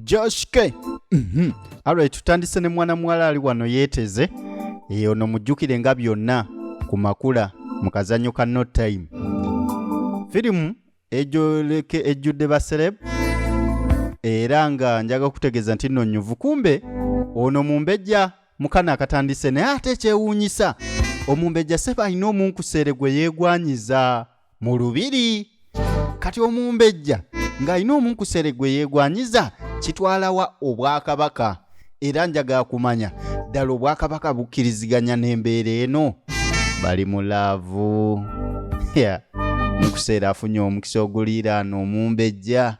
Josh K. Mm -hmm. Alright, tutandise ne mwana muwala ali wano yeeteze eyo ono mujjukire nga byonna ku makula mu kazanyo ka no time firimu ejoleke ejjudde basereb era nga njaga kutegeeza nti nno nyuvu kumbe ono mumbejja mukana akatandise naye ate ekyewuunyisa omumbejja seba alina omunkuseere gwe yeegwanyiza mu lubiri kati omumbejja ng'alina omunkusere gwe yeegwanyiza kitwalawa obwakabaka era njagala kumanya ddala obwakabaka bukkiriziganya n'embeera eno bali mu laavu munkuseera afunye omukisa oguliiraana omumbejja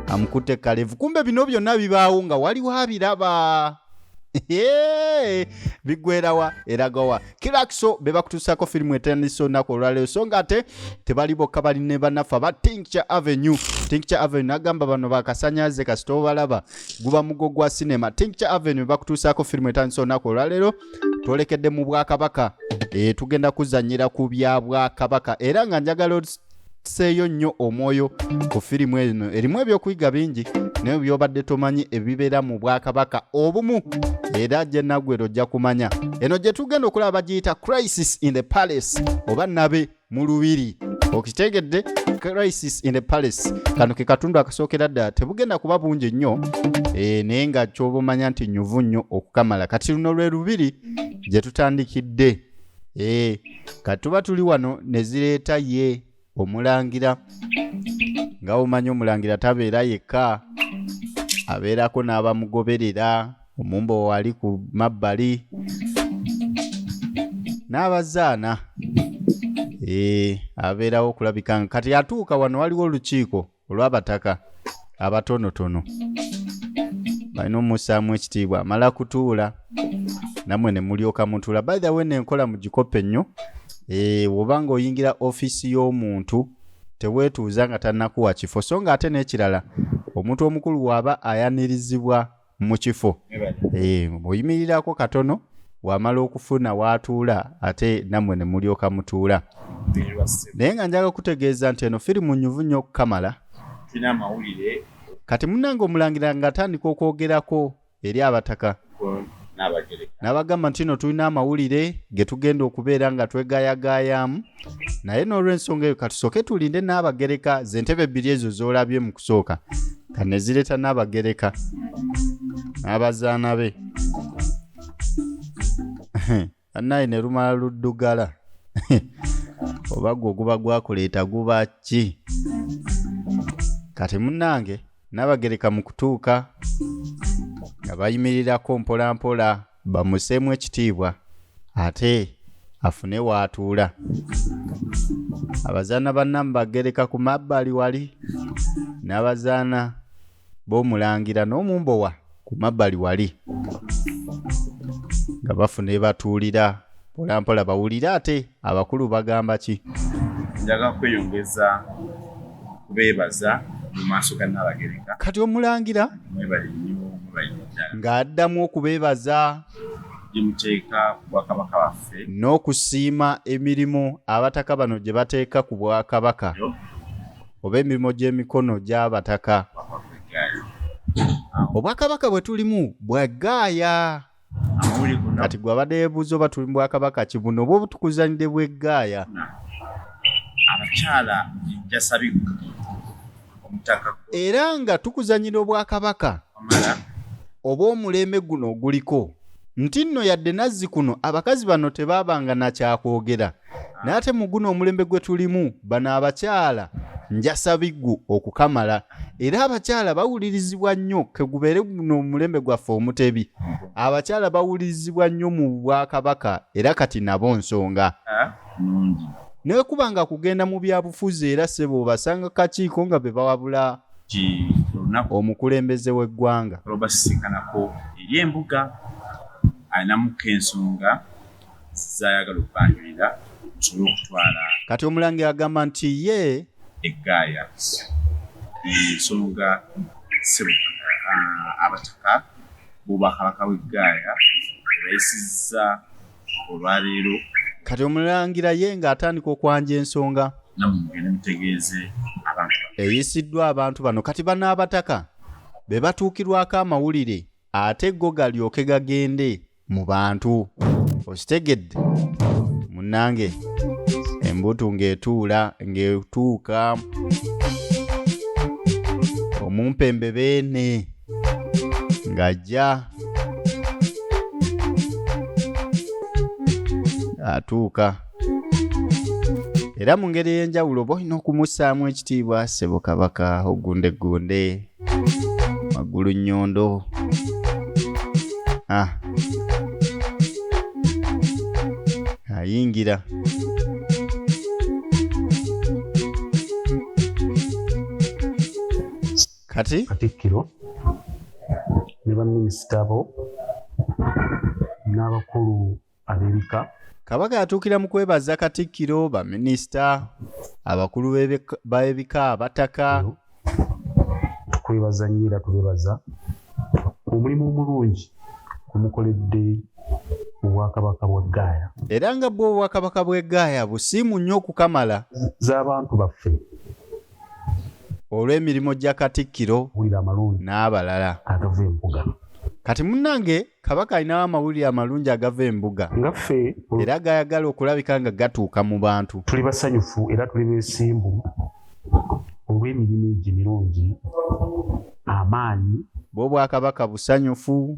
amukutte kalevu kumbe bino byonna bibaawo nga waliwo abiraba bigwerawa eragawa kirakso be bakutuusako firimu etandise olunaku olwaleero so nga ate tebali bokka bali ne banaffe aba tincture avenue tincture avenue nagamba bano bakasanyaze kasita obalaba guba mugo gwa sinema tincture avenue bakutuusako firimu etandise olunaku olwaleero twolekedde mu bwakabaka e, tugenda kuzanyira ku bya bwakabaka era nga njagala tuseeyo nnyo omwoyo ku firimu eno erimu ebyokuyiga bingi naye byobadde tomanyi ebibeera mu bwakabaka obumu era gye naggwera ojja kumanya eno gye tugenda okulaba bagiyita crisis in the palace oba nabe mu lubiri okitegedde crisis in the palace kano ke katundu akasookera ddala tebugenda kuba bungi nnyo e, naye nga kyoba omanya nti nyuvu nnyo okukamala kati luno lwe lubiri gye tutandikidde ee eh, katuba tuli wano ne zireeta ye omulangira nga omanyi omulangira tabeera yekka abeerako n'abamugoberera omumba wali ku mabbali n'abazaana ee eh, abeerawo okulabika nga kati atuuka wano waliwo olukiiko olw'abataka abatonotono balina omusaamu ekitiibwa amala kutuula namwe ne mulyoka mutuula by the way nenkola mu gikope nnyo eh, woba nga oyingira ofiisi y'omuntu teweetuuza nga tannakuwa kifo so nga ate n'ekirala omuntu omukulu waaba ayanirizibwa mu kifo eh, oyimirirako katono wamala okufuna waatuula ate nammwe ne mulyoka mutuula naye nga njaga kutegeeza nti eno firimu nyuvu nnyo okukamala kati munange omulangira nga atandika okwogerako eri abataka n'abagamba nti no tulina amawulire ge tugenda okubeera nga twegayagayaamu naye n'olwensonga eyo katusooke tulinde n'abagereka zentebe bbiri ezo z'olabye mu kusooka nga ne zireeta n'abagereka n'abazaana be annaye ne lumala luddugala oba gwe oguba gwakuleeta guba ki kati munnange nabagereka mu kutuuka nga bayimirirako mpolampola bamuseemu ekitiibwa ate afune waatuula abazaana banna mubagereka ku mabbali wali n'abazaana b'omulangira n'omumbowa ku mabbali wali nga bafuna ebatuulira mpolampola bawulire ate abakulu bagamba ki njaga kweyongeza kubeebaza mu maaso ga nnabagereka kati omulangira mwebali nnyo mwebali ddala ng'addamu okubeebaza gye muteeka ku bwakabaka baffe n'okusiima emirimu abataka bano gye bateeka ku bwakabaka yo oba emirimu gy'emikono gy'abataka bakwakweggaali obwakabaka bwe tulimu bwa gaaya kati gwe abadde yebuuza oba tuli mubwakabaka kibuno oba obutukuzanide bwegaaya abakyala jasabika omutaka era nga tukuzanyira obwakabaka oba omulembe guno oguliko nti nno yadde nazzi kuno abakazi bano tebaabanga nakyakwogera naye ate mu guno omulembe gwe tulimu bano abakyala njasa biggu okukamala era abakyala bawulirizibwa nnyo kegubeere guno omulembe gwaffe omutebi abakyala bawulirizibwa nnyo mu bwakabaka era kati nabo nsonga naye kuba nga kugenda mu byabufuzi era sebo obasanga kakiiko nga be bawabula omukulembeze w'eggwanga olwobasisinkanako eri embuga alinamuko ensonga zizayagala okubanjulira nsobole okutwala kati omulangira agamba nti ye eggaaya ensonga sebo ah, abataka bobwakabaka bw'eggaaya bayisizza olwaleero kati omulangira ye ng'atandika okwanja ensonga eyisiddwa abantu bano kati banaabataka be batuukirwako amawulire ate go galyoke gagende mu bantu okitegedde munange embutu ng'etuula ng'etuuka omumpembe beene ng'ajja atuuka era mu ngeri ey'enjawulo oba olina okumussaamu ekitiibwa ssebo kabaka ogundeggunde magulu nyondo ah. ayingira kati katikkiro ne baminisita bo n'abakulu ab'ebika kabaka yatuukira mu kwebaza katikkiro baminisita abakulu b'ebika abataka tukwebaza nnyo era tubebaza omulimu omulungi omukoledde obwakabaka bwa gaaya era nga bwe obwakabaka bw'e gaaya busiimu nnyo okukamala z'abantu baffe olw'emirimu gya katikkiro n'abalala kati munnange Kabaka alinawo amawulire amalungi agava embuga nga ffe era gayagala okulabika nga gatuuka mu bantu. Tuli basanyufu era tuli beesimbu olw'emirimu egyo emirungi, amaanyi. Bw'Obwakabaka busanyufu.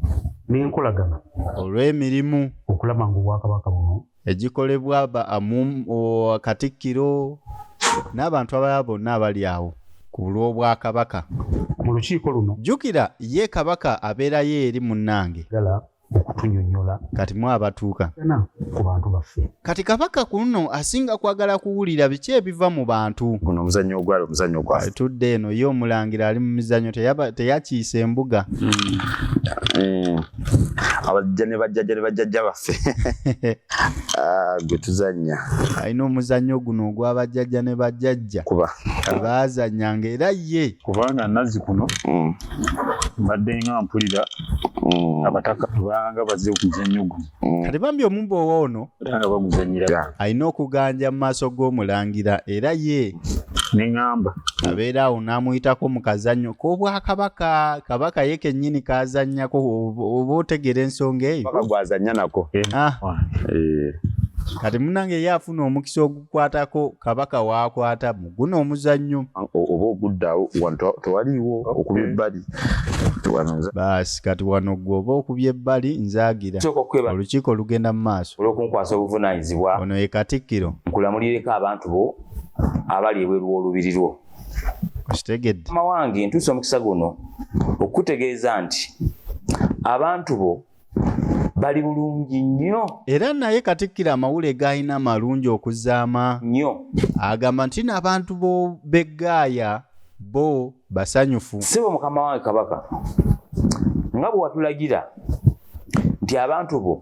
N'enkolagana. Olw'emirimu. Okulaba ng'Obwakabaka buno. egikolebwa ba amum o- katikkiro n'abantu abalala bonna abali awo ku lw'obwakabaka mu lukiiko luno jjukira ye kabaka abeerayo eri munnange gala okutunyonyola kati mwe abatuuka na ku bantu baffe kati kabaka ku luno asinga kwagala kuwulira biki ebiva mu bantu guno omuzannyo ogwali omuzannyo gwaffe tudde eno ye omulangira ali mu mizannyo teyaba- teyakiisa embuga Mm. abajja ne bajjajja ne bajjajja baffe ah, gwe tuzannya alina omuzannyo guno ogw'abajjajja ne bajjajja kuba baazannyanga era ye kubanga nazi kuno mm. mbadde nga mpulira mm. abataka banga baze okuzannyo guno mm. kati bambi omumba owa ono alina okuganja mu maaso g'omulangira era ye neŋamba abeera awo n'amuyitako mu kazannyo k'obwakabaka kabaka ye kennyini kazannyako oba otegeera ensonga eyo gwazannya nako eh. Ah. Eh. kati munange ye afuna omukisa okukwatako kabaka waakwata mu guno omuzannyo oba oguddawo wano tewaliiwo okuba ebbali baasi kati wano gwe oba okubya ebbali nzaagira olukiiko olugenda mu maaso olwokunkwasa obuvunaanyizibwa ono ye katikkiro nkulamulireko abantu bo abali ebweru w'olubiri lwo okitegedde mawange ntuusa omukisa guno okukutegeeza nti abantu bo bali bulungi nnyo era naye katikkiro amawule gaalina malungi okuzaama nnyo agamba nti n'abantu b'eggaaya bo basanyufu sibo mukama wange kabaka nga bwe watulagira nti abantu bo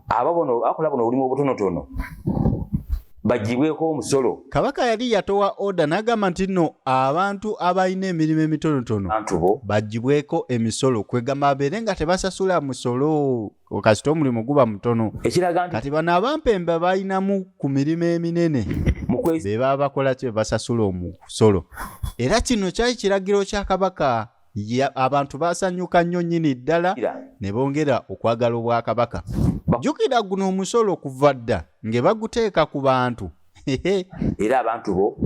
aba bono akola buno obulimu obutonotono bagibweko omusolo kabaka yali yatowa oda nagamba nti no abantu abalina emirimu emitonotono bagibweko emisolo kwegamba abeere nga tebasasula musolo kasita omulimu guba mutono ekiraga nti kati bano abampemba balinamu ku mirimu eminene bebaba bakola ki bebasasula omusolo era kino kyali kiragiro kya kabaka Ya, abantu baasanyuka nnyo nnyini ddala ne bongera okwagala obwakabaka. Jjukira guno omusolo kuva dda nge baguteeka ku bantu era abantu bo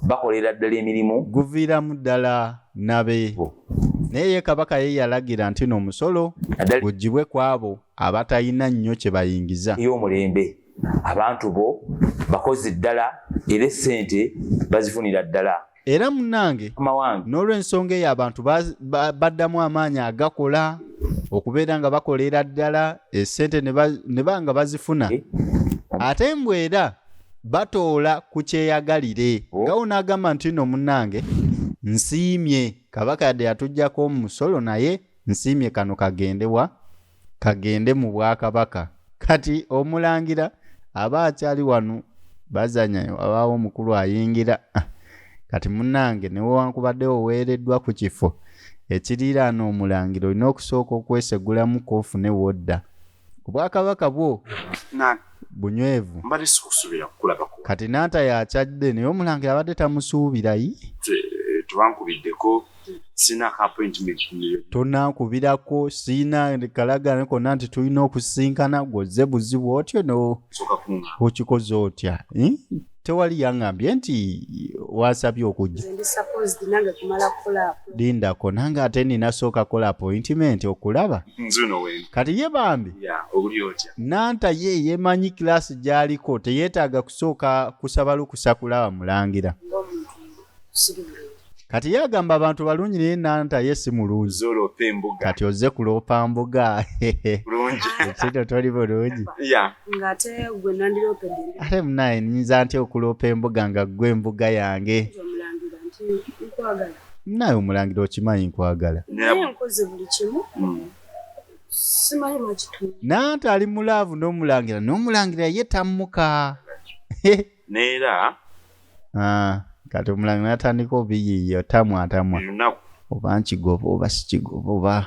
bakolera ddala emirimu guviiramu ddala nabe naye ye kabaka ye yalagira nti no omusolo gugibwe ku abo abatalina nnyo kye bayingiza ey'omulembe abantu bo bakozi ddala era essente bazifunira ddala era munange n'olwensonga eyo abantu baddamu amaanyi agakola okubeera nga bakolera ddala esente ne ba nga bazifuna eh? ate mbu era batoola ku kyeyagalire oh. nga wonaagamba nti no munange nsiimye kabaka yadde yatuggyako omusolo naye nsiimye kano kagendewa kagende mu bwakabaka kati omulangira aba akyali wano bazanya wabaawo omukulu ayingira ah, kati munange newewankubadde oweereddwa ku kifo ekiriiraana omulangira olina okusooka okwesegulamu koofune wodda obwakabaka bwo bunywevu kati naata yakyadde naye omulangira abadde tamusuubirayi tebankubiddeko sina ka appointment tonankubirako siina kalagana konna nti tulina okusinkana gwoze buzibu otyo no okikoze otya hmm? tewali yangambye nti wasabye okujja lindako nange ate nina sooka kola appointment okulaba kati ye bambi nanta ye yemanyi kilasi gyaliko teyetaaga kusooka kusaba lukusa kulaba mulangira kati ye agamba abantu balungi naye nanta ye si mulungi kati ozze kuloopa mbuga ekito toli bulungi ate munaye nyinza ntya okuloopa embuga nga ggwe embuga yange munaye omulangira okimanyi nkwagala nanta ali mu laavu n'omulangira n'omulangira ye tammuka neera Ah, kati omulangi natandika obiyiiya otamwa atamwa oba nkigoba oba sikigoba oba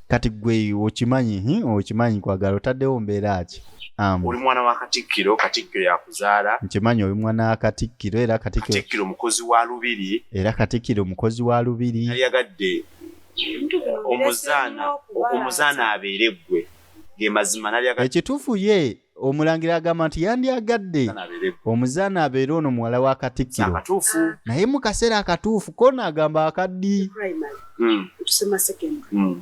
kati gwe okimanyi okimanyi kwagala otaddewo mbeera ki oli mwana wa katikkiro katikkiro yakuzaala nkimanyi oli mwana wa katikkiro era katikkiro mukozi wa lubiri era katikkiro mukozi wa lubiri yayagadde omuzaana abeere ggwe ekituufu ye omulangira agamba nti yandyagadde omuzaana abeere ono muwala wa katikkiro naye mu kaseera akatuufu kona agamba akaddi hmm. hmm.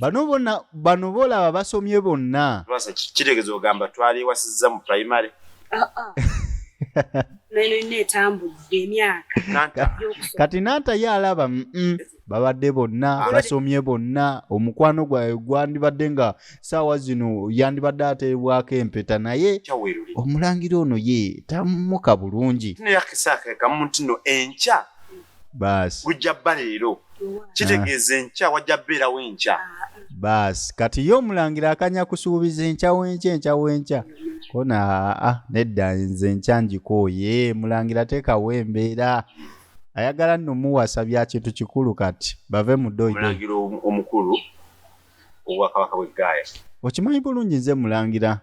bano bona bano boolaba basomye bonna kitegeeza ogamba twaliwasiza mu primary ah, ah. nayo yonna etambudde emyaka kati nanta ye alaba babadde bonna basomye bonna omukwano gwawe gwandibadde nga saawa zino yandibadde ateebwako empeta naye omulangira ono ye tamuka bulungi baasi gujja bba leero kitegeeza enkya wajja beerawo enkya baasi kati ye omulangira akanya kusuubiza enkya wenkya enkya wenkya kona aa ah, ah, nedda nze enkya ngikooye mulangira teekawo embeera ayagala nno muwasa bya kintu kikulu kati bave mu doidomulangira omukulu obwakabaka bwe gaaya okimanyi bulungi nze mulangira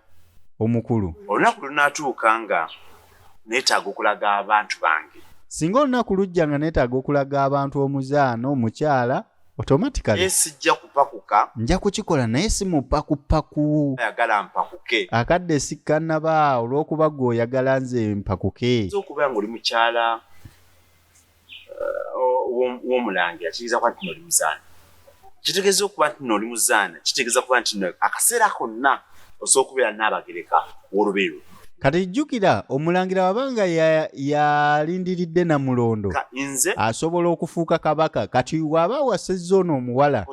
omukulu olunaku lunatuuka nga neetaaga okulaga abantu bange singa olunaku lujja nga neetaaga okulaga abantu omuzaana omukyala automatically naye sijja kupakuka nja kukikola naye si mupakupaku ayagala mpakuke akadde sikkanaba olw'okuba gwe oyagala nze mpakuke okubeera ngaoli mukyala uh, w'omulangira kitegeeza kuba ntino oli muzaana kitegeeza okuba ntino oli muzaana kitegeeza kuba ntino akaseera konna osobola okubeera n'abagereka w'olubeerwa kati jjukira omulangira wabanga yalindiridde ya namulondo asobola okufuuka kabaka kati waba wasezza ono omuwala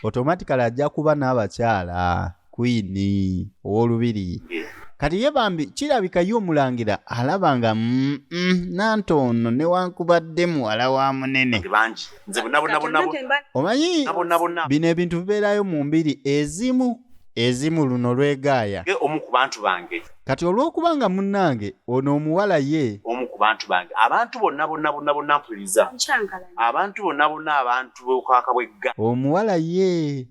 otomatikale ajja kuba n'abakyala kwini ow'olubiri yeah. kati ye bambi kirabika ye omulangira alaba nga mm, mm, nanti ono newankubadde muwala wa munene omanyi bino ebintu bibeerayo mu mbiri ezimu ezimu luno lwegaaya. Ye omu ku bantu bange. Kati olw'okuba nga munnange ono omuwala ye. Omu ku bantu bange. Abantu bonna bonna bonna bonna mpuliriza. Nkyankalanya. Abantu bonna bonna abantu b'okwaka bw'egga. Omuwala ye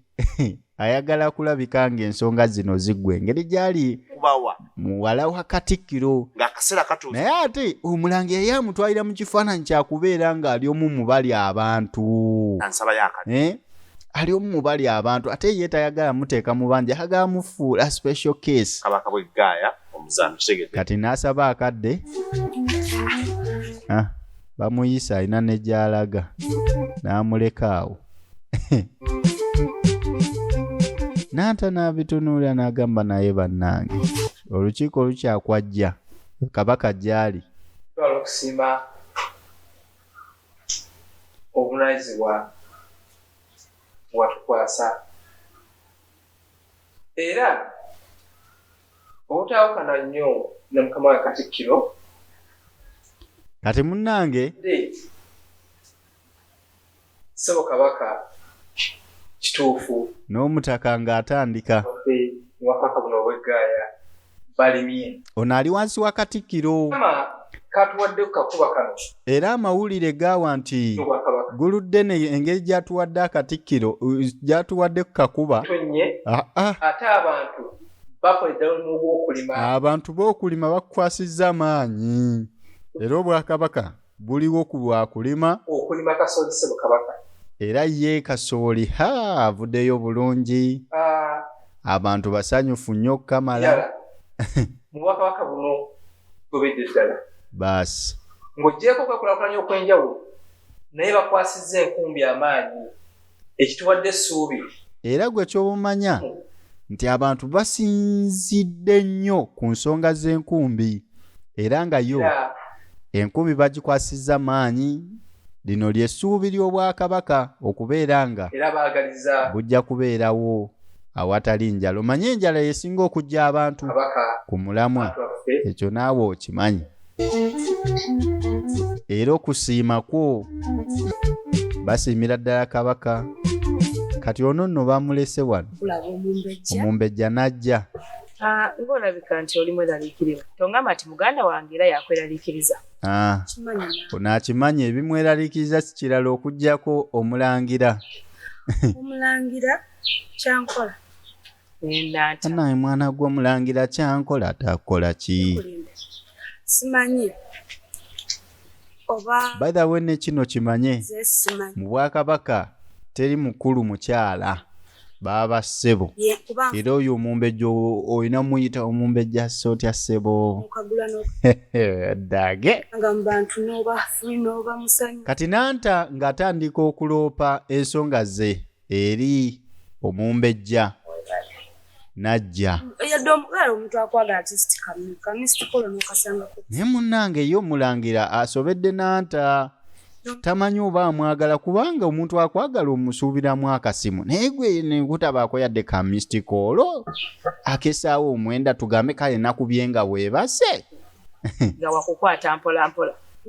ayagala kulabika ng'ensonga zino ziggwa engeri gy'ali. Kubawa. Muwala wa Katikkiro. Ng'akaseera katuuse. Naye ate Omulangira ye amutwalira mu kifaananyi kya kubeera ng'ali omu mu balya abantu. Ansabayo akadde. Eh? ali omu mu bali abantu ate ye tayagala muteeka mu banja hagala mufuula special case kabaka bwe gaaya omuzaano kitegedde kati n'asaba akadde ah, bamuyisa alina ne gy'alaga n'amuleka awo n'ata n'abitunuulira n'agamba naye bannange olukiiko lukyakwajja kabaka gy'ali okusimba obuvunanyizibwa watukwasa era obutawukana nnyo ne mukama wa katikkiro kati munnange ssebo kabaka kituufu n'omutaka ng'atandika wakaka buno obweggaaya balimye ono ali wansi wa katikkiro era amawulire gaawa nti guludde ne engeri gyatuwadde akatikkiro gyatuwadde ku kakuba ah, ah. ate abantu bakola eddalo n'obwokulima abantu b'okulima bakukwasizza amaanyi era obwakabaka guliwo ku lwa kulima okulima kasooli sebo kabaka era ye kasooli ha avudeyo bulungi ah. abantu basanyufu nnyo okukamala mubwakabaka buno tubedde ddala baasi ng'ogyeko kwekulakulanya okw'enjawulo naye bakwasizza enkumbi amaanyi ekituwadde essuubi era gwe ky'obumanya nti abantu basinzidde nnyo ku nsonga z'enkumbi era nga yo enkumbi bagikwasizza maanyi lino ly'essuubi ly'obwakabaka okubeera nga bujja kubeerawo awatali njala omanye enjala yesinga okujja abantu ku mulamwa ekyo naawe okimanyi era okusiima kwo basiimira ddala kabaka kati ono nno bamulese wano omumbejja n'ajja ah, ng'olabika nti oli mweraliikirivu tongamba nti muganda wange era yakweraliikiriza ah, ono akimanyi ebimweraliikiriza sikirala okugyako omulangira omulangira kyankola naye mwana gw'omulangira kyankola takola ki simanyi oba by the way ne kino kimanye mu bwakabaka teri mukulu mukyala baaba ssebo era oyo omumbejja olina muyita omumbejja sse otya ssebo dage kati nanta ng'atandika okuloopa ensonga ze eri omumbejja najja naye munnange ye omulangira asobedde nanta tamanyi oba amwagala kubanga omuntu akwagala omusuubiramu akasimu naye gwe nekutabaako yadde ka mistiko olwo akesaawo omwenda tugambe kale nakubye nga bwebase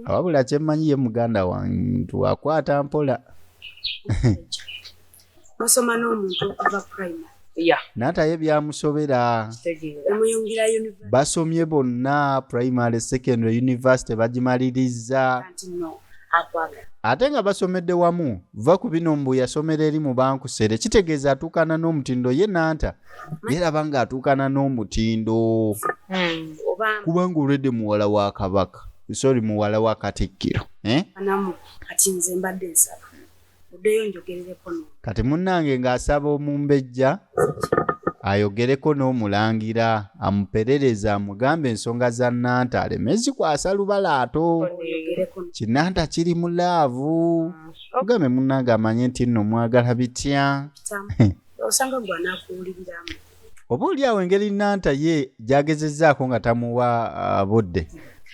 wabula kyemmanyi ye muganda wantu akwata mpola musoma n'omuntu okuva primary nataye byamusobera basomye bonna primary secondary university bagimalirizza ate nga basomedde wamu va ku bino mbu yasomera eri mu bankusere kitegeeza atuukana n'omutindo ye nanta yeraba nga atuukana n'omutindo hmm. kubanga olwedde muwala wa kabaka sorry muwala wa katikkiro eh? kati nze mbadde nsaba oddeyo njogerereko no kati munnange ng'asaba omumbejja ayogereko n'omulangira amuperereza amugambe ensonga za nanta aleme zikwasa lubalaato kinanta kiri mu laavu ogambe ah, munnange amanye nti nno mwagala bitya osanga gwe anakuwuliriramu oba oli awo engeri nanta ye gyagezezzaako nga tamuwa uh, budde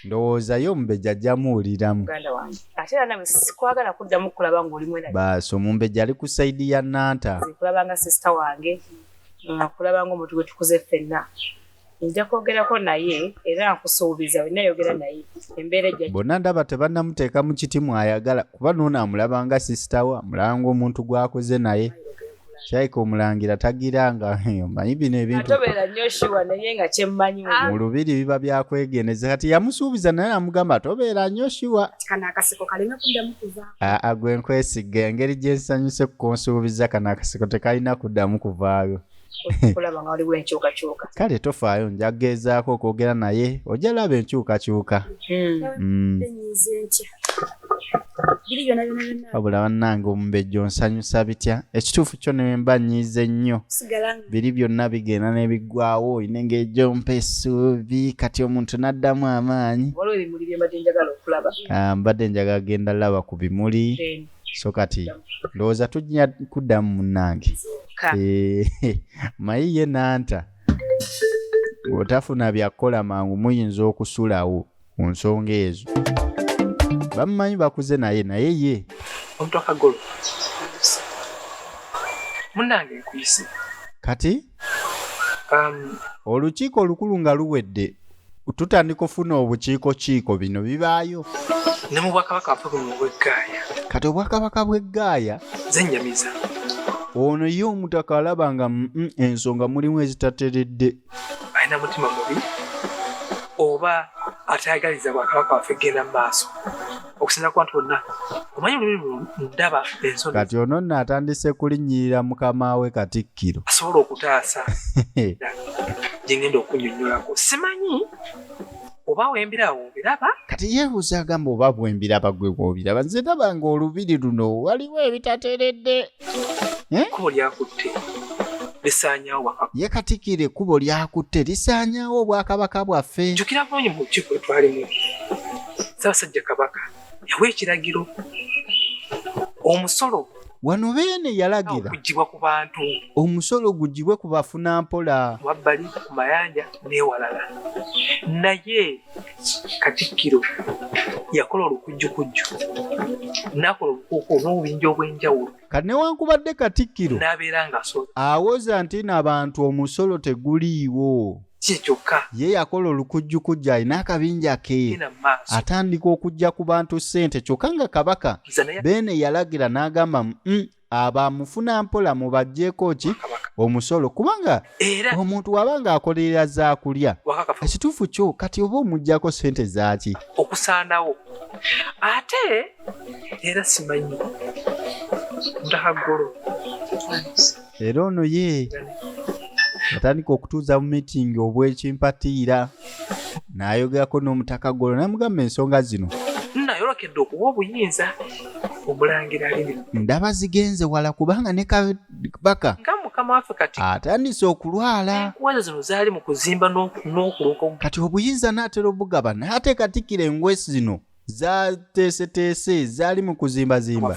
ndowooza ye omumbejja ajja muwuliramu baasi omumbejja ali ku sayidi ya nanta kulabanga sisita wange nkulabanga omuntu gwe tukuze ffenna nja kwogerako naye era nkusuubiza olina yogera naye embeera ejja bonna ndaba tebannamuteeka mu kiti mwayagala kuba noono amulabanga sisita we amulabanga omuntu gwakoze naye Shaika omulangira tagiranga omanyi bino ebintutobeera nnyo shuwa naye nga kyemmanyi ah. mu lubiri biba byakwegeneza kati yamusuubiza naye namugamba tobeera nnyo shuwa aa gwe nkwesiga engeri gye nsanyuse kukunsuubiza kano akaseko tekalina kuddamu kuvaayo kale tofaayo nja kugeezaako okwogera naye ojja laba enkyukakyuka hmm. Hmm. wabula bannange omumbejja onsanyusa bitya ekituufu kyo nemba nyiize nnyo biri byonna bigenda nebiggwawo oyina engeri gyompa esuubi kati omuntu n'addamu amaanyi ah, mbadde njagala genda laba ku bimuli so kati ndowooza tujja kuddamu munnange eh, mayi ye nanta bw'otafuna byakukola mangu muyinza okusulawo ku nsonga ezo bamumanyi bakuze naye naye ye kati um, olukiiko olukulu nga luwedde tutandika ofuna obukiiko kiiko bino bibaayo ne mu bwakabaka buno bweggaaya kati obwakabaka bweggaaya zenyamiza ono ye omutaka alaba nga ensonga mulimu ezitateredde alina mutima mubi oba atayagaliza bwakabaka waffe kugenda mu maaso okusinza ku bantu bonna omanyi olulimi ndaba ensoni kati ono nno atandise kulinnyirira mukama we katikkiro asobola okutaasa gyengenda okunyonyolako simanyi oba wembirawo biraba kati yeebuuza agamba oba bwembiraba gwe bwobiraba nze ndaba nga olubiri luno waliwo ebitateredde eh? kubo lyakutte lisaanyawo bwakabaka ye katikira ekkubo lyakutte lisaanyawo obwakabaka bwaffe jjukira bulungi mu lukiiko lwetwalimu ssaabasajja kabaka yawa ekiragiro omusolo wano beene yalagira okugibwa ku bantu omusolo gugibwe ku bafuna mpola wabbali ku mayanja n'ewalala naye katikkiro yakola olukujjukujju nakola obukuuku n'obubinja obw'enjawulo kati newankubadde katikkiro awoza nti na bantu omusolo teguliiwo ye yakola olukujjukujja alina akabinja ke atandika okujja ku bantu ssente kyokka nga kabaka beene yalagira n'agamba mm, abamufuna mpola mubajjeeko ki omusolo kubanga omuntu waba nga akolerera zakulya ekituufu kyo kati oba omujjako sente zaaki okusaanawo ate era simanyi ndahagolo era ono ye atandika okutuuza mu mitingi obwekimpatiira n'ayogerako n'omutaka golo namugamba ensonga zino nayolekedde okuwa obuyinza omulangira liri ndaba zigenze wala kubanga ne kabaka nga mukama waffe kati atandise okulwala enkuwaza zino zaali mu kuzimba n'okuloka kati obuyinza n'atera obugaba n'ateekatikira engwesi zino zateeseteese zaali mu kuzimbazimba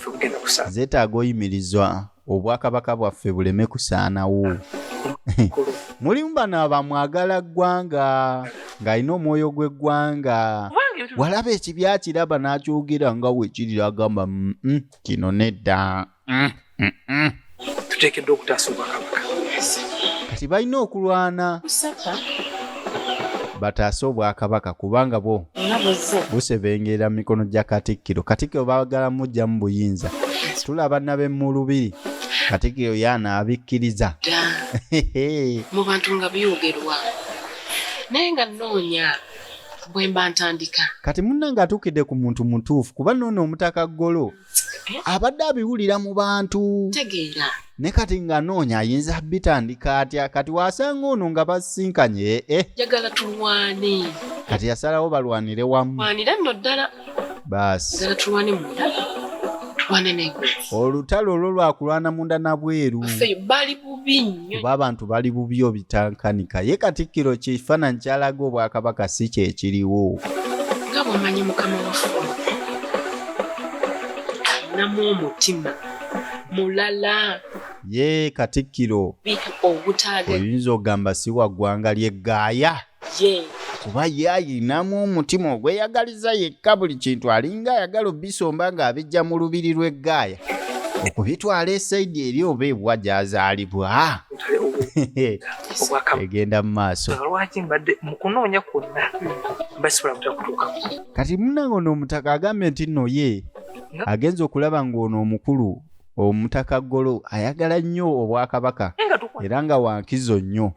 zeetaaga oyimirizwa obwakabaka bwaffe buleme kusaanawo mulimu bano abamwagala ggwanga ng'alina omwoyo gw'eggwanga walaba ekibyakiraba n'akyogera nga wekirira agamba mm, mm, kino nedda mm, mm, mm. tuteekeddwa okutaasa obwakabaka kati balina okulwana bataase obwakabaka kubanga bwo busebengerera mu mikono gya katikkiro katikkiro baagala mujja mu buyinza tulaba nabe mu lubiri katikkiro yaana abikkiriza mu bantu nga byogerwa naye nga nnoonya bwemba ntandika kati munna ng'atuukidde ku muntu mutuufu kuba noono omutaka ggolo eh? abadde abiwulira mu bantu tegeera ne kati nga noonya ayinza bitandika atya kati wasanga ono nga basinkanye eh? jagala tulwane kati yasalawo balwanire wamu wanira nno ddala baasi jagala tulwane munda olutalo olwo lwakulwana munda nabweru bubi nnyo kuba abantu bali bubi obitankanika ye katikkiro kifaananyi kyalaga obwakabaka si kyekiriwo nga bwomanyi mukama wafe alinamu omutima mulala ye katikkiro oyinza okugamba si waggwanga lye gaaya yee kuba ye ayinamu omutima ogweyagaliza yekka buli kintu alinga ayagala obisomba ng'abijja mu lubiri lw'eggaaya okubitwala esaidi eri oba ebwa gyazaalibwa egenda mu maaso kati munange ono omutaka agambye nti nno ye agenza okulaba ng'ono omukulu omutaka golo ayagala nnyo obwakabaka era nga wankizo nnyo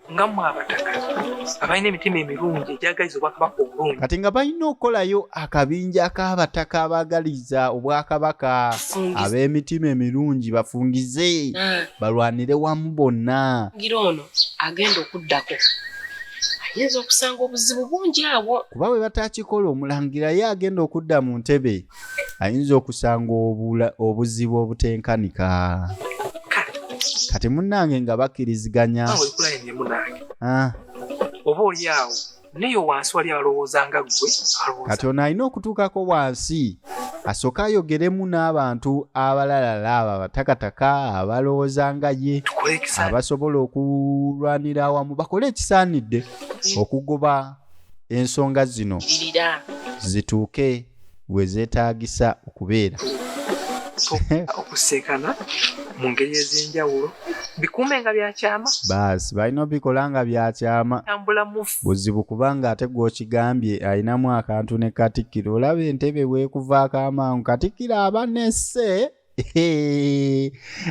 abalina emitima emirungi egyagaliza obwakabaka obulungi kati nga balina okukolayo akabinja k'abataka abagaliza obwakabaka ab'emitima emirungi bafungize hmm. balwanire wamu bonna ngira ono agenda okuddako ayinza okusanga obuzibu bungi awo kuba bwe batakikola omulangira ye agenda okudda mu ntebe ayinza okusanga obuzibu obutenkanika kati munange nga bakkiriziganya ah. oba olyawo naye wansi wali alowooza nga gwe kati ono alina okutuukako wansi asooke ayogeremu n'abantu abalalala abo abatakataka abalowooza nga ye abasobola okulwanira awamu bakole ekisaanidde okugoba ensonga zino zituuke we zeetaagisa okubeera okuseekana mu ngeri ez'enjawulo bikuume nga byakyama baasi balina obikola nga byakyama buzibu kubanga ate gwokigambye alinamu akantu ne katikkiro olaba entebe weekuvaako amangu katikkiro aba nesse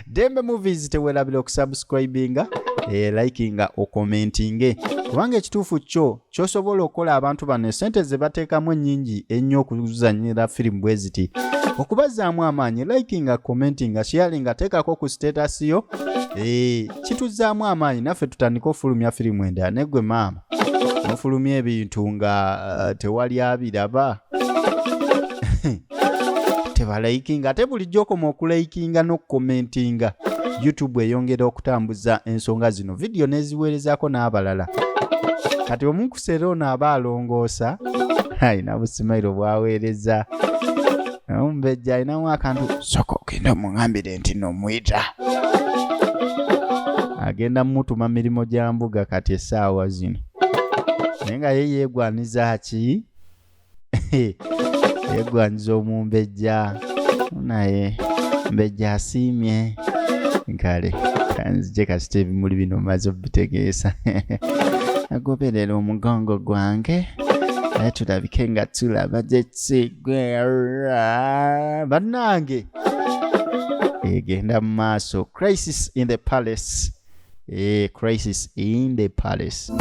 dembe movies tewelabira okusubscribinga eh, likinga okomentinge kubanga ekituufu kyo kyosobola okukola abantu bano esente zebateekamu ennyingi ennyo okuzanyira firimu bwe ziti okubazaamu amaanyi likinga commentinga sharinga teekako ku status yo eh, kituzaamu amaanyi naffe tutandika ofulumya firimu endala negwe maama nofulumya ebintu nga eh, tewali abiraba tebalayikinga ate bulijjo okoma okulayikinga n'okukomentinga youtube eyongera okutambuza ensonga zino vidiyo n'eziweerezaako n'abalala kati omunkusera ono aba alongoosa alina busimairo bwaweereza omumbejja alinamu akantu soka ogenda omuŋambire nti nomwita agenda mumutuma mirimu gya mbuga kati essaawa zino naye nga ye yeegwaniza ki yegwanyiza omumbejja naye mbejja asiimye kale kanzije kasita ebimuli bino maze obitegeesa agoberera omugongo gwange naye tulabike nga tulaba gyekigwera bannange egenda mu maaso crisis in the palace eh, crisis in the palace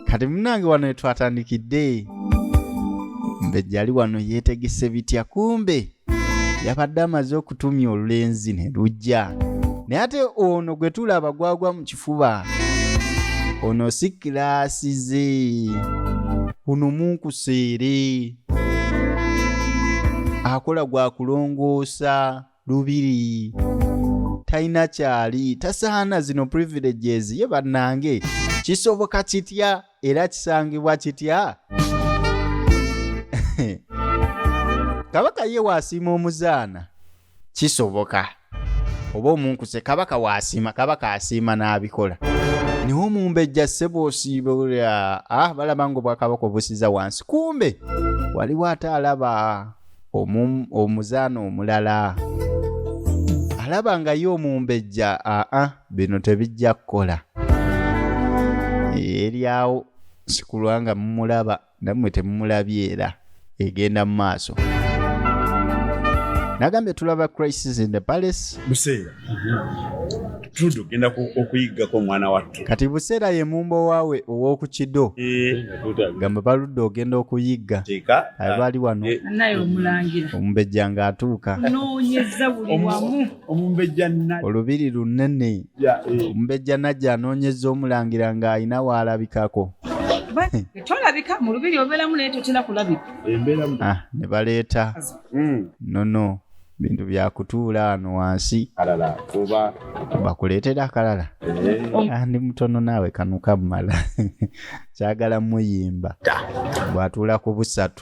kati munange wano etwatandikidde mbejjali wano yetegese bitya kumbe yabadde amaze okutumya olulenzi ne lujja naye ate ono gwe tulaba gwagwa mu ekifuba ono si kilaasi ze ono munkuseere akola gwa kulongoosa lubiri talina kyali tasaana zino privileges ye bannange kisoboka kitya era kisangibwa kitya kabaka ye waasiima omuzaana kisoboka oba omunkuse kabaka waasiima kabaka asiima n'abikola naye omumbejja ssebo osiiba olya ah balaba nga obwakabaka obusiza wansi kumbe waliwo ate alaba omuzaana omulala alaba nga ye omumbejja aa ah, ah, bino tebijja kukola eryawo sikulwa nga mumulaba namwe temumulabye era egenda mu maaso nagambye tulaba crisis in the palace buseera tugenda okuyiggako omwana wattu kati buseera ye mumbo waawe ow'oku kido eh. gamba baludde ogenda okuyigga abaali wano eh. omumbejja ng'atuuka omumbejja najja olubiri lunene eh. omumbejja najja anoonyeza omulangira ng'alina waalabikako tolabika mu lubiri obeeramu naye totera kulabika ah, ne baleeta hmm. nono bintu byakutuula wano wansi bakuleetera akalala eh. ah, ndi mutono naawe kanuka mumala kyagala muyimba bwatuula ku busatu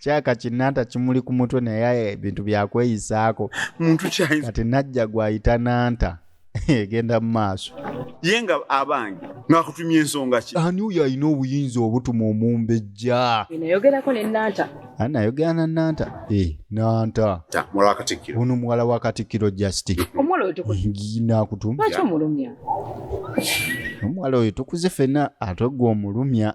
kyaka kinanta kimuli ku mutwe naye ebintu byakweyisaako muntu kyayinza kati najja gwayita nanta egenda mu maaso ye nga abange ngakutumya ensonga ki ani oyo alina obuyinza obutuma omumbejja nayogerako ne nanta ani nayogera na nanta e nanta muwala wa katikkiro ono muwala wa katikkiro just omuwala oyo nakutumlwaki omulumya omuwala oyo tukuze fena ate gwe omulumya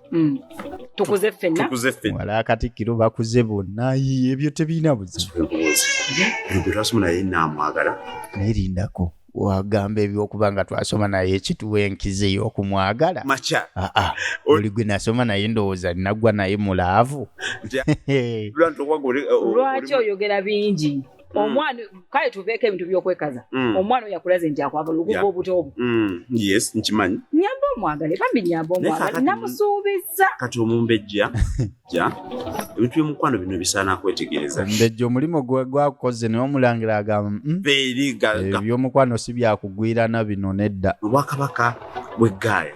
Mm. tukuze ffenna wala katikkiro bakuze bonna ebyo tebirina buzibu twasomu naye namwagala naye lindako wagamba ebyokuba nga twasoma naye ekituwa enkizi eyokumwagala maca ah, ah. oli gwe nasoma naye ndowooza nagwa naye mulaavu lwaki oyogera bingi Mm. omwana kale tuveeko ebintu byokwekaza mm. omwana oyo akulaze nti akwagala okuva obuto obwo mm. yes nkimanyi nyamba omwagale bambi nyamba omwagale namusuubiza kati omumbejja ja ebintu byomukwano bino bisaana kwetegereza omumbejja omulimu gwakukoze naye omulangira agamba mm, ebyomukwano si byakugwirana bino nedda obwakabaka bweggaaya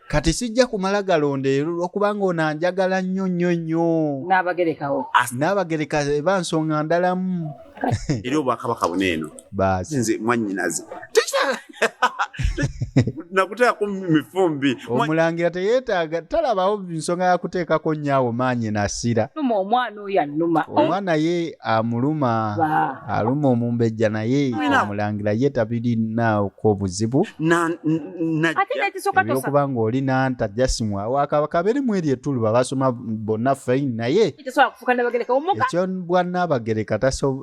kati sijja kumala galonda ero lwokubanga ono anjagala nnyo nnyo nnyo n'abagerekawo n'abagereka eba nsonga ndalamu eri obwakabaka buna eno baasi nze mwannyinaze nakuteekako mifumbi omulangira teyeetaaga talabawo nsonga yakuteekako nyaawo maanyi nasira numa omwana oyo anuma omwana ye amuluma aluma omumbejja naye omulangira ye tabirinaako obuzibu ebyokuba ng'oli nanta jasimu awakabere mu eryo etulu babasoma bonna fain naye ekyo bwa naabagereka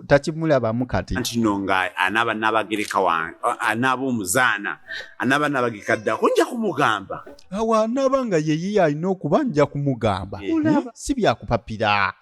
takimulabamu kati ntino nga anaaba naabagereka wange anaaba omuzaana anaaba naabagereka ddako nja kumugamba awo anaaba nga yeyiye alina okuba nja kumugamba eh, eh? si byakupapira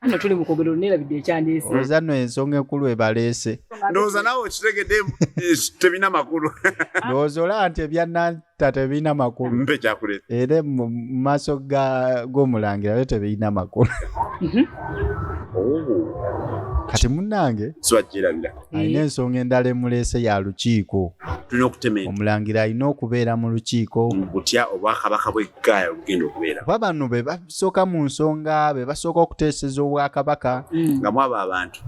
Ano tuli mu kogero nera bidde ekyandese. Oza no ensonga enkulu ebalese. Ndoza nawo kitegede eh, tebina makulu. Ndozo la ante bya nan tate bina makulu. Mbe kya kule. Ere maso ga go mulangira lete bina makulu. Mhm. Oh. Kati munange. Swajira bila. alina ensonga endala emuleese ya lukiiko omulangira alina okubeera mu lukiiko butya obwakabaka bweggaaya olugenda okubeera kuba bano be basooka mu nsonga be basooka okuteeseza obwakabaka mm. nga mwabo abantu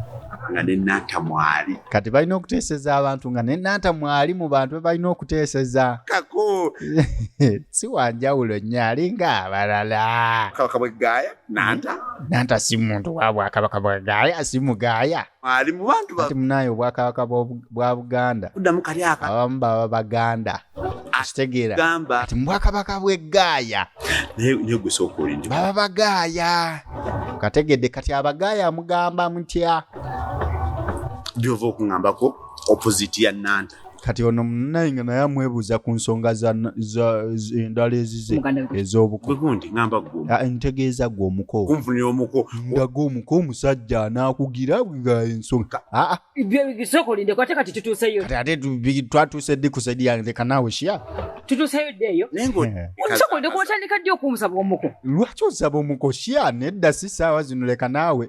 nga nenanta mwali kati balina okuteeseza abantu nga nenanta mwali mu bantu be balina okuteeseza kako si wanjawulo nnyo alinga abalala kabaka bweggaaya nanta nanta si muntu wa bwakabaka bweggaaya si mugaaya ali mu bantu bati munaye obwakabaka bwa buganda kuddamu kali aka abamu baba baganda akitegeera kati mubwakabaka bw'eggaaya naye gwe sooka olindi baba bagaaya kategedde kati abagaaya mugamba mutya byova okungambako opposite ya nanta kati ono munaye nga naye amwebuuza ku nsonga endala ezize ez'obukontegeeza ah, gwe omuko nga gwe omuko omusajja anaakugira ensonga ah, ah. twatuuse ddi ku saidi yange leka naawe shia tutuuseyo ddi eyo eh. omusokolide kuotandika ddi okumusaba omuko lwaki osaba omuko shia nedda si saawa zino leka naawe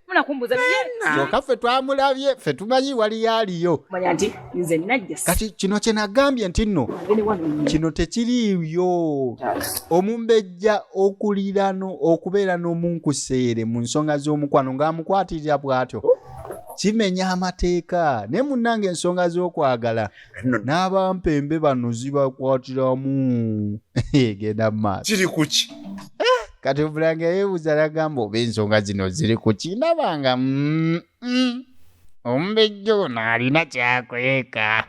munakumbuza kyoka ffe twamulabye ffe tumanyi waliyo aliyo kati kino kyenagambye nti nno kino tekiriiyo omumbejja okulirano okubeera n'omunkuseere mu nsonga z'omukwano ng'amukwatirira bw'atyo kimenya amateeka naye munnanga ensonga z'okwagala nno n'abampembe bano zibakwatiramu egenda mu maaso kiri ku ki eh, kati obulanga yeebuuza nagamba oba ensonga zino ziri ku ki ndaba nga mm, mm. omumbejja ono alina kyakweka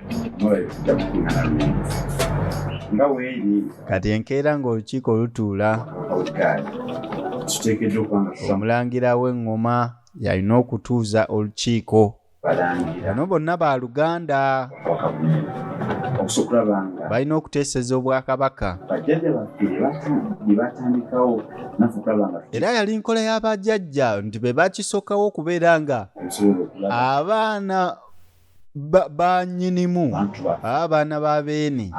kati enkeera ng'olukiiko lutuula omulangira w'eŋŋoma yalina okutuuza olukiiko bano bonna ba luganda balina okuteeseza obwakabaka era yali nkola y'abajajja nti be bakisokawo okubeera nga abaana banyinimu abaana ba beene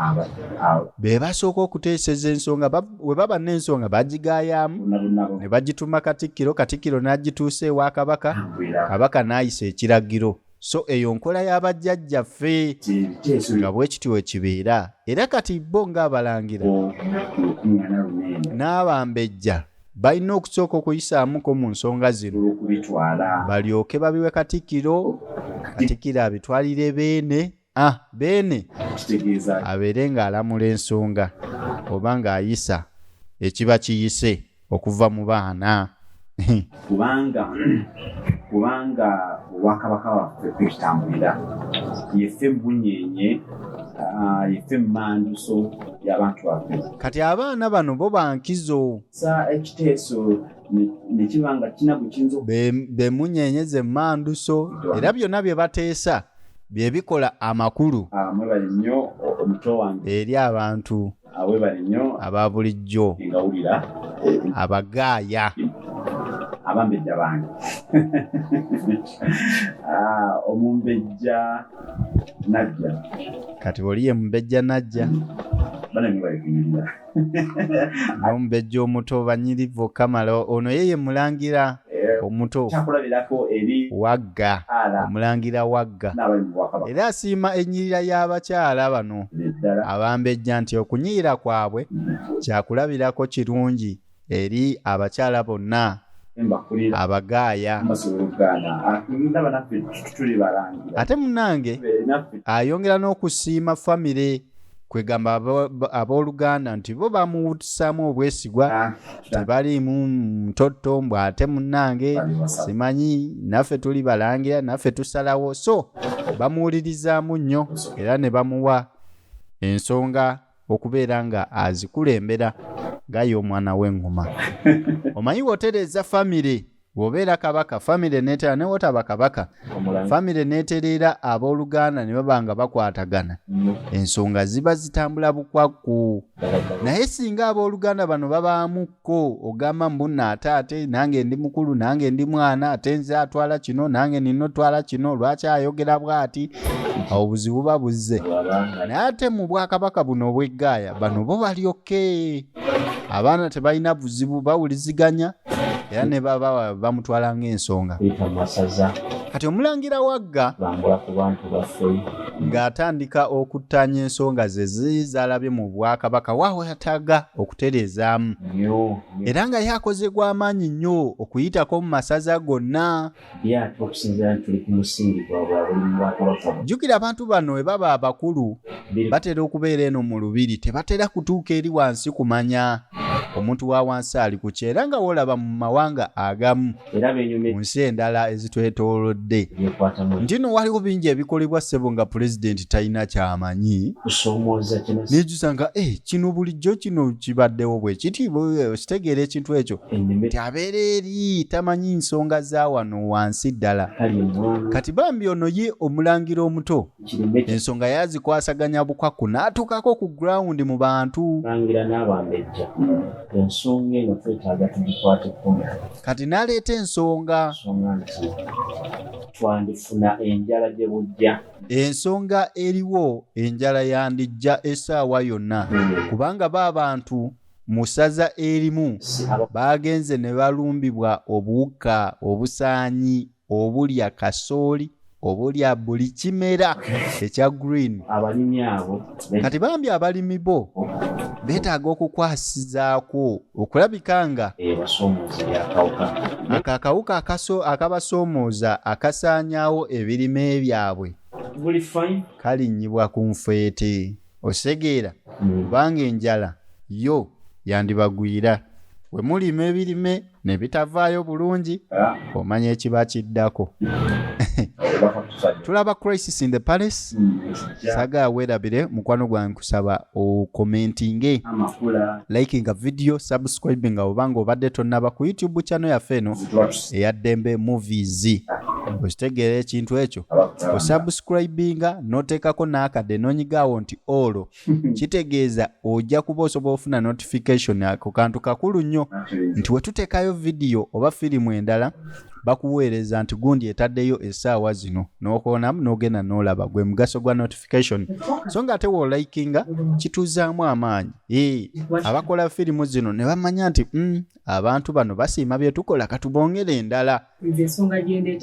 be basooka okuteeseza ensonga we baba n'ensonga bagigaayaamu ne bagituma katikkiro katikkiro n'agituusa ewa kabaka kabaka n'ayisa ekiragiro so eyo nkola y'abajjajjaffe nga bwe kityo ekibeera era kati bo ng'abalangira n'abambejja balina okusooka okuyisaamuko mu nsonga zino balyoke babiwe katikkiro katikkiro abitwalire beene ah, beene abeere ng'alamula ensonga oba ng'ayisa ekiba kiyise okuva mu baana kubanga kubanga obwakabaka waffe kwekitambulira yeffe mubunyenye ah, yeffe mumanduso yabantu baffe kati abaana bano bo bankizo sa ekiteeso nekibanga kina bwekinza bemunyenye ze manduso era byonna bye bateesa bye bikola amakulu eri abantu aba bulijjo abagaaya abambejja bange ah, omumbejja najja kati oli ye mumbejja najja bana nibaikunyirira nomubejja omuto banyirivu kamala ono yeye mulangira eh, omuto wagga omulangira wagga era asiima enyirira y'abakyala bano abambejja nti okunyiira kwabwe kyakulabirako kirungi eri abakyala bonna abagaaya ate munange ayongera n'okusiima famire kwegamba abooluganda nti bo bamuwutisaamu obwesigwa ah, tebaliimu mutotto mbu ate munange simanyi naffe tuli balangira naffe tusalawo so bamuwulirizaamu nnyo era ne bamuwa ensonga okubeera nga azikulembera gaye omwana w'engoma omanyi wotereeza famire bwobeera kabaka famire neteera ne wotaba kabaka famire netereera abooluganda ne baba nga bakwatagana mm. ensonga ziba zitambula bukwakku naye singa abooluganda bano babaamu ko ogamba mbunna ate ate nange ndi mukulu nange ndi mwana ate nze atwala kino nange nina otwala kino lwaki ayogera bwati awo obuzibu ba buzze naye ate mu bwakabaka buno obweggaaya bano bo balyoke abaana tebalina buzibu bawuliziganya era ne baba bamutwala ng'ensonga kati omulangira wagga ng'atandika okuttaanya ensonga ze ziri z'alabye mu bwakabaka waawetaga okutereezaamu era nga yakoze gw'amaanyi nnyo okuyitako mu masaza gonna jjukira abantu bano we baba abakulu batera okubeera eno mu lubiri tebatera kutuuka eri wansi kumanya omuntu wa wansi ali ku kyera nga wolaba mu mawanga agamu mu nsi endala ezitwetoolodde nti no waliwo bingi ebikolebwa ssebo nga pulezidenti talina kyamanyi nejjusa nga e kino bulijjo kino kibaddewo bwe kiti okitegeera ekintu ekyo ti abeera eri tamanyi nsonga za wano wansi ddala kati bambi ono ye omulangira omuto ensonga yazikwasaganya bukwaku n'atuukako ku gurawundi mu bantu langira n'abambejja ensonga eno twetaaga tugikwate kumi kati n'aleeta ensonga nsonga nti twandifuna enjala gye bujja ensonga eriwo enjala yandijja essaawa yonna hmm. kubanga ba bantu mu ssaza erimu baagenze ne balumbibwa obuwuka obusaanyi obulya kasooli obulya buli kimera ekya green abalimi abo kati bambi abalimi bo beetaaga okukwasizaako okulabika nga ako akawuka akabasoomooza akasaanyaawo ebirime byabwe kalinnyibwa ku nfeete okitegeera mm. kubanga enjala yo yandibagwira we mulima ebirime ne bitavaayo bulungi ah. omanya ekiba kiddako tulaba crisis in the palace mm. saga werabire mukwano gwange kusaba okomentinge likinga video subscribing nga obanga obadde tonnaba ku youtube channel yaffe eno eyaddembe movies okitegeera ekintu ekyo osubscribinga noteekako n'akadde nonyigaawo nti olwo kitegeeza ojja kuba osobola ofuna notification ako kantu kakulu nnyo nti wetuteekayo vidiyo oba firimu endala bakuweereza nti gundi etaddeyo essaawa zino n'okoonamu n'ogenda n'olaba gwe mugaso gwa notification so nga ate wolikinga kituuzaamu amaanyi ee abakola firimu zino ne bamanya nti mm, abantu bano basiima bye tukola katubongere endala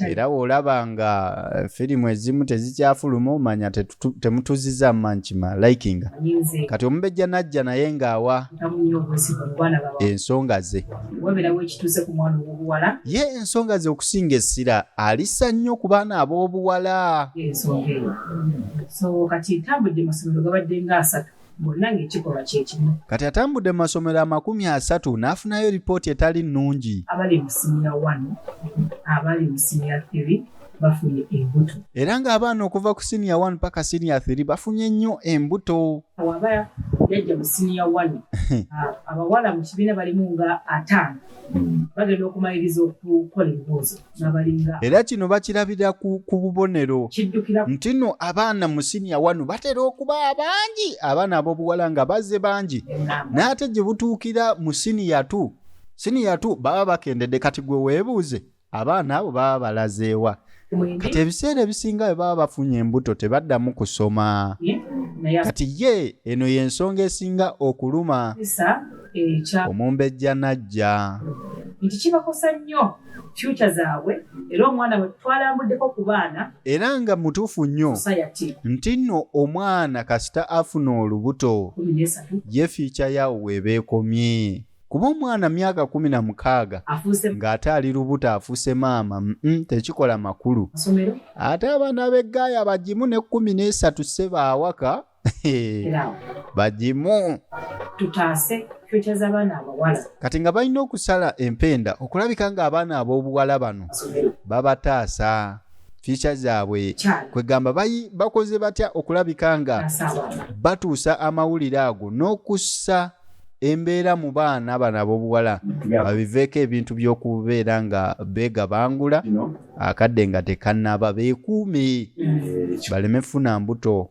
era bw'olaba nga eh, firimu ezimu tezikyafuluma omanya temutuziza mankima likinga kati omubejja najja naye ng'awa ensonga ze ye ensonga ze okusinga essira alisa nnyo ku baana ab'obuwala bonna ng'ekikolwa kye kimu. Kati atambudde mu masomero amakumi asatu n'afunayo lipooti etali nnungi. Abali mu siniya wano, abali mu siniya tiri bafunye embuto. Era ng'abaana okuva ku siniya wano paka siniya tiri bafunye nnyo embuto. Waba yajja mu siniya wano, abawala mu kibiina balimu nga ataano bagenda okumaliriza okukola ebibuuzo. era kino bakirabira ku bubonero nti no abaana mu siniya wano batera okuba abangi abaana ab'obuwala nga bazze bangi n'ate gye butuukira mu siniya tu siniya tu baba bakendedde kati gwe weebuuze abaana abo baba balazeewa kati ebiseera ebisinga bwe baba bafunye embuto tebaddamu kusoma kati ye eno y'ensonga esinga okuluma eh, omumbejja najja nti kibakosa nnyo future zaabwe era omwana we twalambuddeko ku baana era nga mutuufu nnyo nti nno omwana kasita afuna olubuto ye fiica yaawo weebeekomye kuba omwana myaka kumi na mukaaga ng'ate ali lubuto afuuse maama mm, mm, tekikola makulu ate abaana b'eggaaya bagimu ne kkumi n'esatu seba awaka bagimu tutaase fyuca z'abaana abawala kati nga balina okusala empenda okulabika ng'abaana ab'obuwala bano babataasa fyuca zaabwe kwegamba bakoze batya okulabika nga batuusa amawulire ago n'okussa embeera mu baana bano ab'obuwala babiveeko ebintu by'okubeera nga beegabangula akadde nga tekannaba beekuume baleme funa mbuto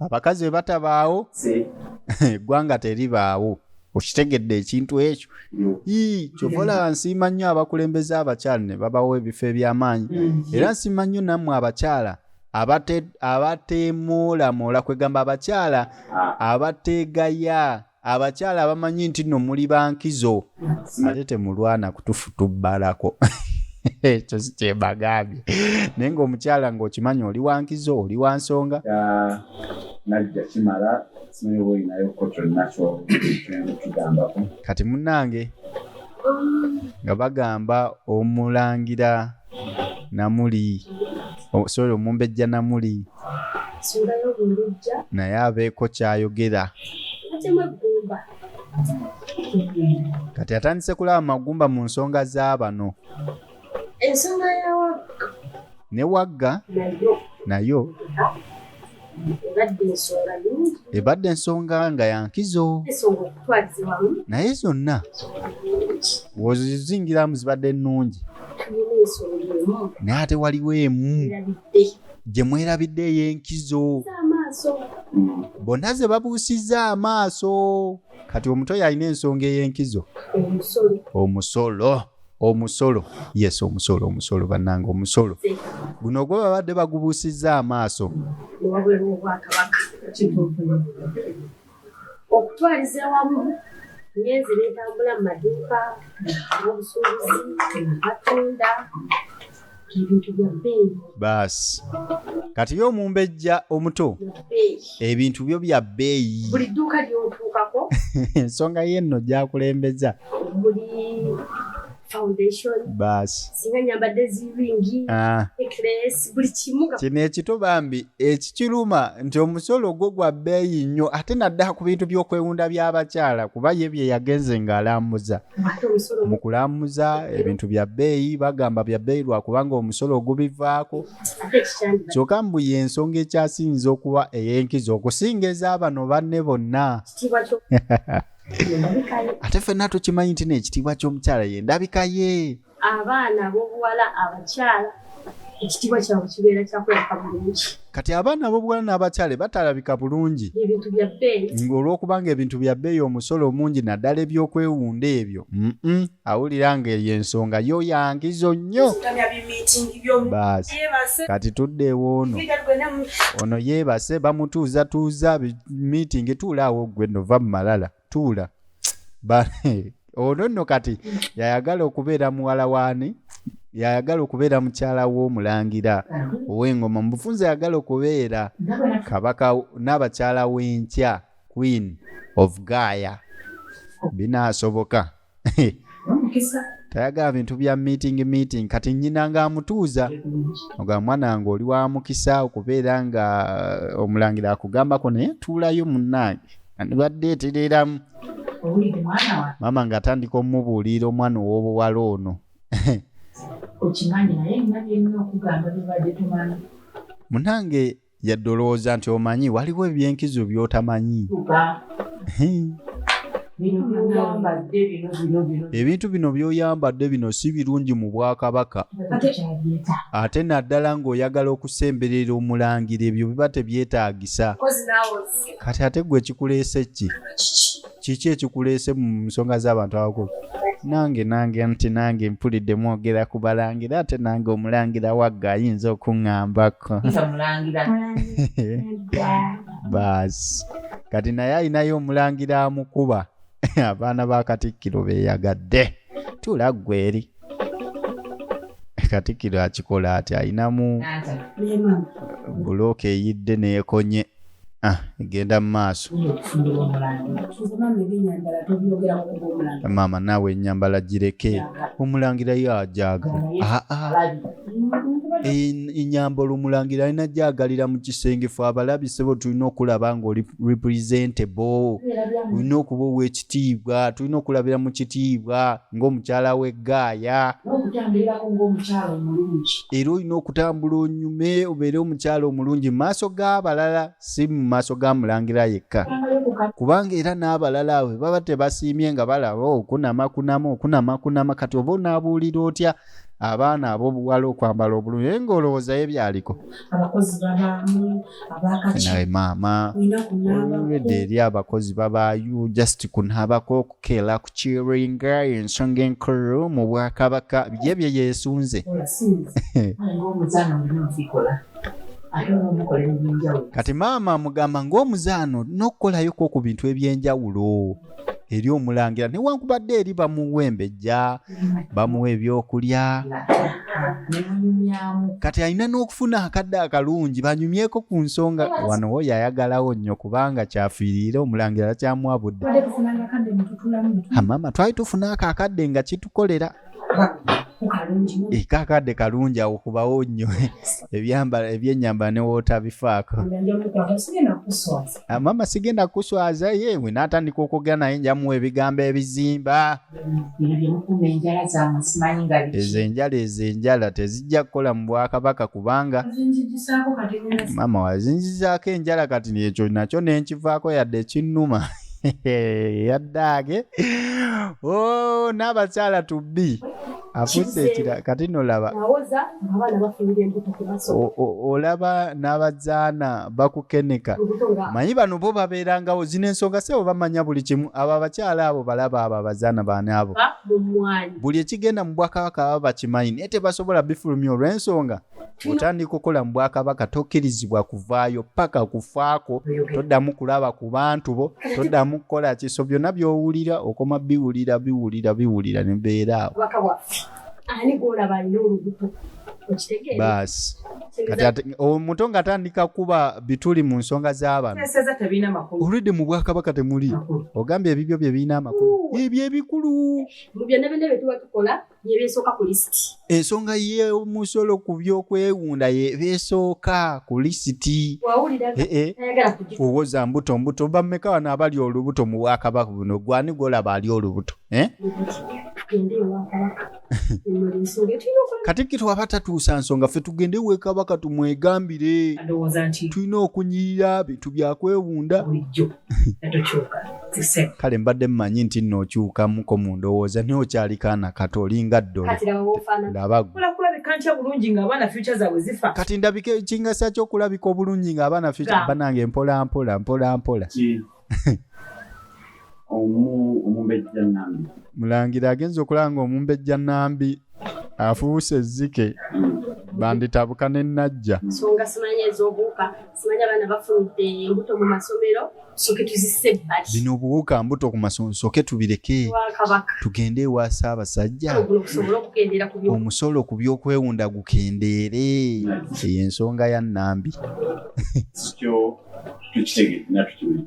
abakazi bwe batabaawo eggwanga teribaawo okitegedde ekintu ekyo kyova olaba nsiima nnyo abakulembeze abakyala ne babawo ebifo eby'amaanyi mm. era nsiima nnyo nammwe abakyala abateemuulamula kwegamba abakyala ah. abateegaya abakyala abamanyi nti no muli bankizo ate temulwana kutufutubbalako ekyo sikyebagambye naye ngaomukyala ngaokimanyi oli wankizo oli wansonga najja kimala simanyi oba olinayo ko kyonna kyokigambako kati munange nga bagamba omulangira namuli oh, sorry omumbejja namuli naye abeeko kyayogera kati atandise kulaba magumba mu nsonga z'abano ne wagga nayo ebadde ensonga nga yankizo naye zonna wozizingiramu zibadde nnungi naye ate waliwo emu gye mwerabidde ey'enkizo bonna ze babuusizza amaaso kati omuto yalina ensonga ey'enkizo omusolo omusolo yes omusolo omusolo bannanga omusolo guno ogwo babadde bagubuusizza amaaso okutwaliza ewamu nyenzi netambula mu maduuka obusuubuzi abatunda baasi kati ye omumbejja omuto ebintu byo bya bbeeyi ensonga ye nno gyakulembeza kino ekito bambi ekikiruma nti omusolo gwo gwa bbeeyi nnyo ate nadda ku bintu by'okwewunda by'abakyala kuba ye bye yagenze ng'alambuza mu kulamuza ebintu bya bbeeyi bagamba bya bbeeyi lwakubanga omusolo ogubivaako kyokka mbu ye ensonga ekyasinza okuba ey'enkizo okusinga ez'abano banne bonna ate fenna tukimanyi nti neekitiibwa ky'omukyala ye ndabika ye abaana ab'obuwala abakyala ekitiibwa kyabwe kibeera kyakulabika bulungi kati abaana ab'obuwala n'abakyale batalabika bulungi ebintu bya bbeeyi ng'olw'okuba ng'ebintu bya bbeeyi omusolo omungi naddala ebyokwewunda ebyo awulira ng'eyo ensonga yo yangizo nnyo baasi kati tudde ewoono ono yeebase bamutuuzatuuza miitingi tuulaawo ggwe nova mu malala tuula ono nno kati yayagala okubeera muwala waani yayagala okubeera mukyala w'omulangira ow'engoma mubufunza yayagala okubeera kabaka n'abakyala w'enkya queen of gaaya binaasoboka tayagala bintu bya meeting meeting kati nyina nga amutuuza oga mwana nga oli wa mukisa okubeera nga uh, omulangira akugambako naye tuulayo munnange andibadde etereeramu maama nga atandika omumubuulira omwana ow'obuwala ono okimanyi naye nga byemuna okugamba bibadde tumanyi munange yadde olowooza nti omanyi waliwo ebyenkizo byotamanyi ebintu bino byoyambadde bino si birungi mu bwakabaka ate naddala ng'oyagala okusemberera omulangira ebyo biba tebyetaagisa kati ate gwe ekikuleese ki kiki ekikuleese mu nsonga z'abantu abakulu nange nange nti nange mpulidde mwogera ku balangira ate nange omulangira wagga ayinza okuŋambako baasi kati naye alinayo omulangira amukuba abaana ba katikkiro beyagadde tula ggweri katikkiro akikola ati alinamu bulooka eyidde neekonye ah, egenda mu maaso maama naawe enyambala gireke omulangira yo ajagala ah, ah. enyamba olumulangira alina gyagalira mu kisenge fe abalabi sebo tulina okulaba nga oli representable olina okuba owekitiibwa tulina okulabira mu kitiibwa ngaomukyala weggaaya era olina okutambula onyume obeere omukyala omulungi mumaaso g'abalala si mu maaso ga mulangira yekka kubanga era n'abalala we baba tebasiimye nga balaba oh, okunama kunama okunama kunama kati oba onaabuulira otya abaana abobuwala okwambala obulungi naye ngaolowooza ye byaliko nawe maama olwedde eri abakozi babaayo just kunabako okukeela kukiringa ensonga enkulu mu bwakabaka bye bye yesunze kati maama amugamba ngaomuzaano nokukolayoko ku bintu ebyenjawulo eri omulangira newankubadde eri bamuwa embejja bamuwa ebyokulya kati alina n'okufuna akadde akalungi banyumyeko ku nsonga wano wo yayagalawo nnyo kubanga kyafiiriire omulangira kyamuwa budde amama twali tufuna ako akadde nga kitukolera kakadde kalungi awo kubawo nnyo ebyambala ebyenyambala ne wootabifaako ah, maama sigenda kuswaza ye we naatandika okwogera naye njamuwa ebigambo ebizimba ezo enjala ezo enjala tezijja kukola mu bwakabaka kubanga maama wazinzizaako enjala kati ekyo nakyo nenkivaako yadde ekinnuma yaddaage o oh, n'abakyala tubbi afuuse ekira kati nolaba olaba n'abazaana bakukeneka manyi bano bo babeerangawo zino ensonga sebo bamanya buli kimu abo abakyala abo balaba abo abazaana baani abo buli ekigenda mu bwakabaka baba bakimanyi naye tebasobola bifulumya olw'ensonga otandika okukola mu bwakabaka tokkirizibwa kuvaayo paka kufaako toddamu kulaba ku bantu bo toddamu kukola kiso byonna byowulira okoma biwulira biwulira biwulira nebeera awo baasi omuto nga atandika kuba bituli mu nsonga z'abantu oludde mu bwakabaka temuli ogambye ebibyo bye birina amakulu ebyo ebikulu yebesooka ku lisiti ensonga y'omusolo ku byokwewunda yebesooka ku lisiti owoza mbuto mbuto bameka wano abali olubuto mu bwakabaka buno gwani gwolaba ali olubuto eh? katikkiro aba tatuusa nsonga ffe tugende wekabaka tumwegambire tulina okunyirira bintu byakwewunda kale mbadde mmanyi nti nno okyukamuko mu ndowooza naye okyali kaana kato olinga ddolekati ndabika ekingasa kyokulabika obulungi ng'abaana fyuca banange mpola mpola mpola mpola mulangira agenza okulanga omumbejja nambi afuuse ezzike banditabuka ne najja simanya abaana bafunidde embuto mu masomero soke tuzise ebbali bino obuwuka mbuto ku masomero soke tubireke tugende ewa ssaabasajja omusolo ku byokwewunda gukendeere eyo ensonga ya nambi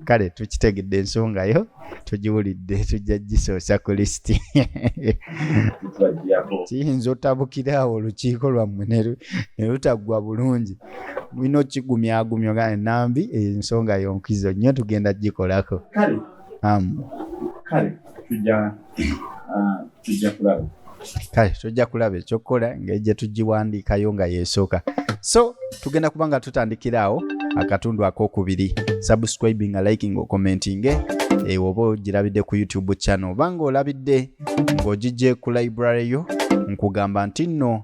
kale tukitegedde ensonga yo tugiwulidde tujja gisoosa ku lisiti kiyinza otabukira awo olukiiko lwammwe ne lutaggwa bulungi mulina okigumyagumya oga enambi ensonga yonkizo nnyo tugenda gikolako kale kale tujja ah, tujja kulaba kale tujja kulaba ekyokukola ngeri gye tugiwandiikayo nga yesooka so tugenda kuba nga tutandikira awo akatundu akokubiri subscribing liking okomentinge ewo oba ogirabidde ku youtube channel obanga olabidde ng'ogijje ku library yo nkugamba nti nno